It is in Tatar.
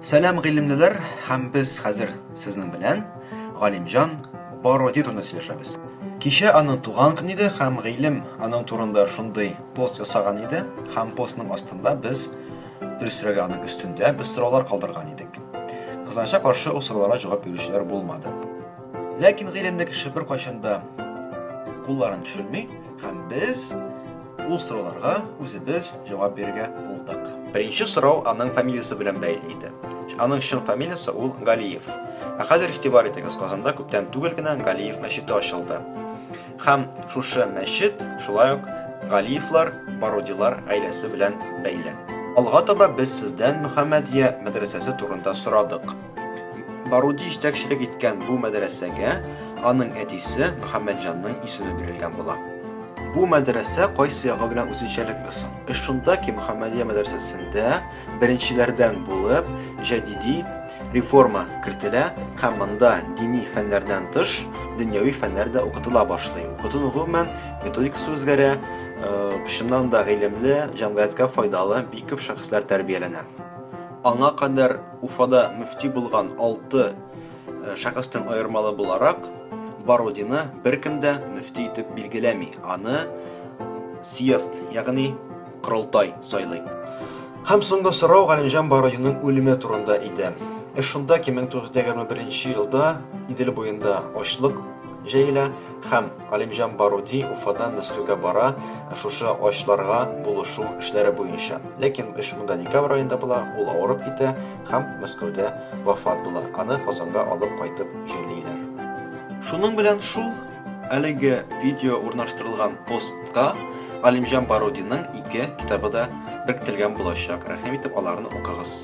Сәлам гыйлемлеләр һәм без хәзер сезнең белән Галимҗан Бородин турында сөйләшәбез. Кичә аның туган көне иде һәм гыйлем аның турында шундый пост ясаган иде һәм постның астында без дөресрәге аның өстендә без сораулар калдырган идек. Кызганычка каршы ул сорауларга җавап бирүчеләр булмады. Ләкин гыйлемле кеше беркайчан да кулларын төшерми һәм без Ул сорауларга үзебез җавап бирергә булдык. Беренче сорау аның фамилиясе белән бәйле иде. Аның чын фамилиясе ул Галиев. Ә хәзер игътибар итегез, Казанда күптән түгел генә Галиев мәчете ачылды. Һәм шушы мәчет шулай ук Галиевлар, Барудилар гаиләсе белән бәйле. Алга таба без сездән Мөхәммәдия мәдрәсәсе турында сорадык. Баруди җитәкчелек иткән бу мәдрәсәгә аның әтисе Мөхәммәтҗанның исеме бирелгән була. Бу мәдрәсә кайсы ягы белән үзенчәлекле соң? Э, шунда ки Мөхәммәдия мәдрәсәсендә беренчеләрдән булып җәдиди реформа кертелә һәм монда дини фәннәрдән тыш дөньяви фәннәр дә укытыла башлый. Укыту гомумән методикасы үзгәрә, э, чыннан да гыйлемле, җәмгыятькә файдалы бик күп шәхесләр тәрбияләнә. Аңа кадәр Уфада мөфти булган алты э, шәхестән аермалы буларак, Барудины беркем дә мөфти итеп билгеләми. Аны съезд, ягъни корылтай сайлый. Һәм соңгы сорау Галимҗан Барудинның үлеме турында иде. Эш шунда ки 1921 елда Идел буенда ачлык җәелә һәм Галимҗан Баруди Уфадан Мәскәүгә бара шушы ачларга булышу эшләре буенча. Ләкин эш монда декабрь аенда була, ул авырып китә һәм Мәскәүдә вафат була. Аны Казанга алып кайтып җирлиләр. Шуның белән шул, әлеге видео урнаштырылган постка Галимҗан Барудиның ике китабы да беркетелгән булачак. Рәхим итеп аларны укыгыз.